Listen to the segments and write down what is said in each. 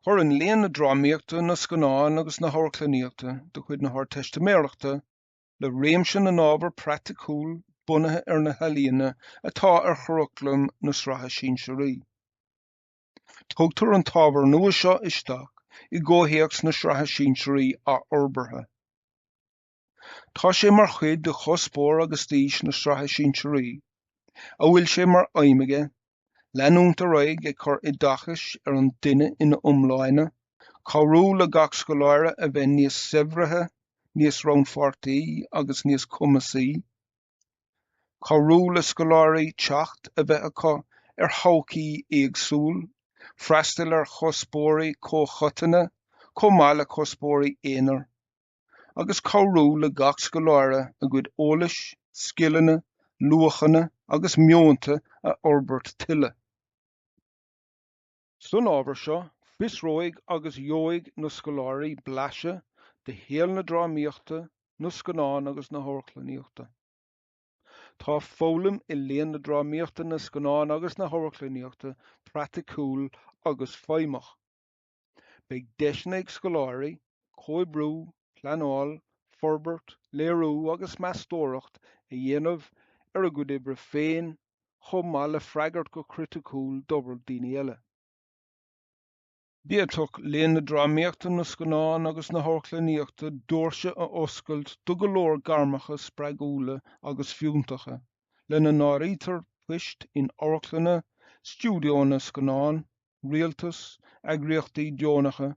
Cuireann léann na drámaíochta, na scannán agus na hamharclannaíochta de chuid na hArdteistiméireachta le réimse na n-ábhar praiticiúil bunaithe ar na healaíona atá ar churaclam na Sraithe Sinsearaí. Tugtar an t-ábhar nua seo isteach i gcomhthéacs na Sraithe Sinsearaí athfhorbartha. Tá sé mar chuid de chuspóir agus d'fhís na Sraithe Sinsearaí, a bhfuil sé mar aidhm aige leanúint ar aghaidh ag cur oideachais ar an duine ina iomláine, cabhrú le gach scoláire a bheith níos saibhrithe, níos rannpháirtí agus níos cumasaí, cabhrú le scoláirí teacht a bheith acu ar thodhchaíochtaí éagsúla, freastal ar chuspóirí comhchoiteanna chomh maith le cuspóirí aonair. agus cabhrú le gach scoláire a gcuid eolais, scileanna, luachanna agus meonta a fhorbairt tuilleadh. San ábhar seo, fiosróidh agus gheobhaidh na scoláirí blaiseadh de shaol na drámaíochta, na scannán agus na hamharclannaíochta. Tá foghlaim i léann na drámaíochta, na scannán agus na hamharclannaíochta praiticiúil agus feidhmeach. Beidh deiseanna ag scoláirí comhoibriú, pleanáil, forbairt, léiriú agus meastóireacht a dhéanamh ar a gcuid oibre féin chomh maith le freagairt go criticiúil d'obair daoine eile. D'fhéadfadh léann na drámaíochta, na scannán agus na hamharclannaíochta doirse a oscailt do go leor gairmeacha spreagúla agus fiúntacha, lena n-áirítear poist in amharclanna, stiúideoanna scannán, rialtas, eagraíochtaí deonacha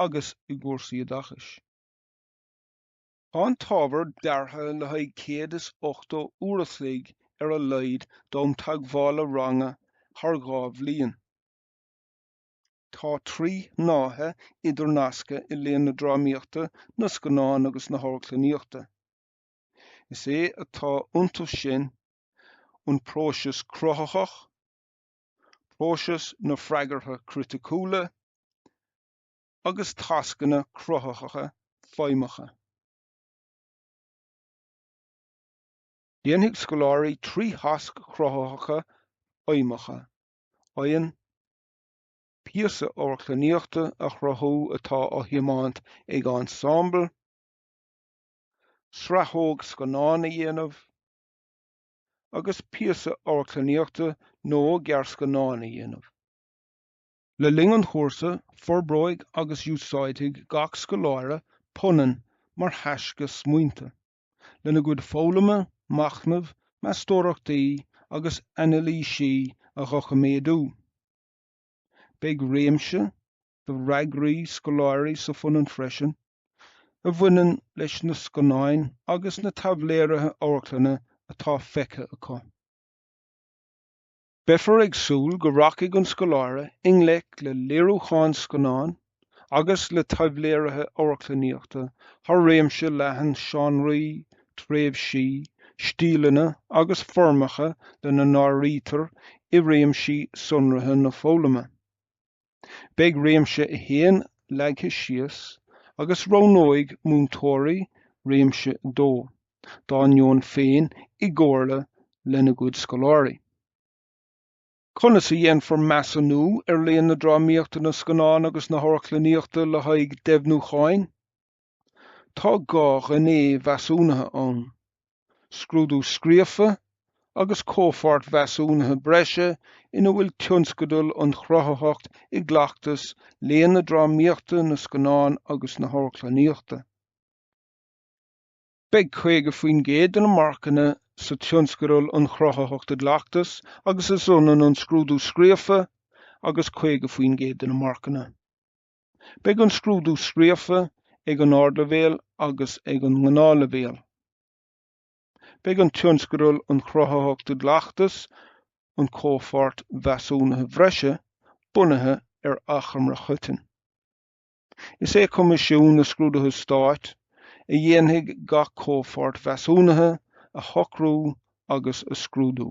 agus i gcúrsaí oideachais. Tá an t-ábhar deartha le haghaidh 180 uair a chloig ar a laghad d'am teagmhála ranga thar dhá bhliain. Tá trí shnáithe idirnasctha i léann na drámaíochta, na scannán agus na hamharclannaíochta. Is é atá iontu sin an próiseas cruthaitheach, próiseas na Freagartha Criticiúla agus tascanna cruthaitheacha feidhmeacha. Déanfaidh scoláirí trí thasc chruthaitheacha fheidhmeacha, eadhon, píosa amharclannaíochta a chruthú atá á thiomáint ag ensemble, sraitheog scannáin a dhéanamh, agus píosa amharclannaíochta nó gearrscannán a dhéanamh. Le linn an chúrsa, forbróidh agus úsáidfidh gach scoláire punann mar thaisce smaointe, lena gcuid foghlama, machnaimh, meastóireachtaí agus anailísí a dhoiciméadú. Beidh réimse do fhreagraí scoláirí sa phunann freisin, a bhaineann leis na scannáin agus na taibhléirithe amharclainne atá feicthe acu. Beifear ag súil go rachaidh an scoláire i ngleic le léiriúcháin scannáin agus le taibhléirithe amharclannaíochta thar réimse leathan seánraí, tréimhsí, stíleanna agus foirmeacha lena n-áirítear i réimsí sonraithe na foghlama. Beidh réimse 1 leagtha síos agus roghnóidh múinteoirí réimse 2 dá ndeoin féin i gcomhairle lena gcuid scoláirí. Conas a dhéanfar measúnú ar léann na drámaíochta, na scannán agus na hamharclannaíochta le haghaidh deimhniúcháin? Tá dhá ghné mheasúnaithe ann, scrúdú scríofa agus comhpháirt mheasúnaithe breise ina bhfuil tionscadal an chruthaitheacht i gcleachtas léann na drámaíochta, na scannán agus na hamharclannaíochta. Beidh 50% de na marcanna sa tionscadal an chruthaitheacht i gcleachtas agus is ionann an scrúdú scríofa agus 50% de na marcanna. Beidh an scrúdú scríofa ag an Ardleibhéal agus ag an nGnáthleibhéal. Beidh an Tionscadal an Chruthaitheacht i gCleachtas, an Comhpháirt Mheasúnaithe Bhreise, bunaithe ar achoimre choiteann. Is é Coimisiún na Scrúduithe Stáit a dhéanfaidh gach comhpháirt mheasúnaithe a shocrú agus a scrúdú.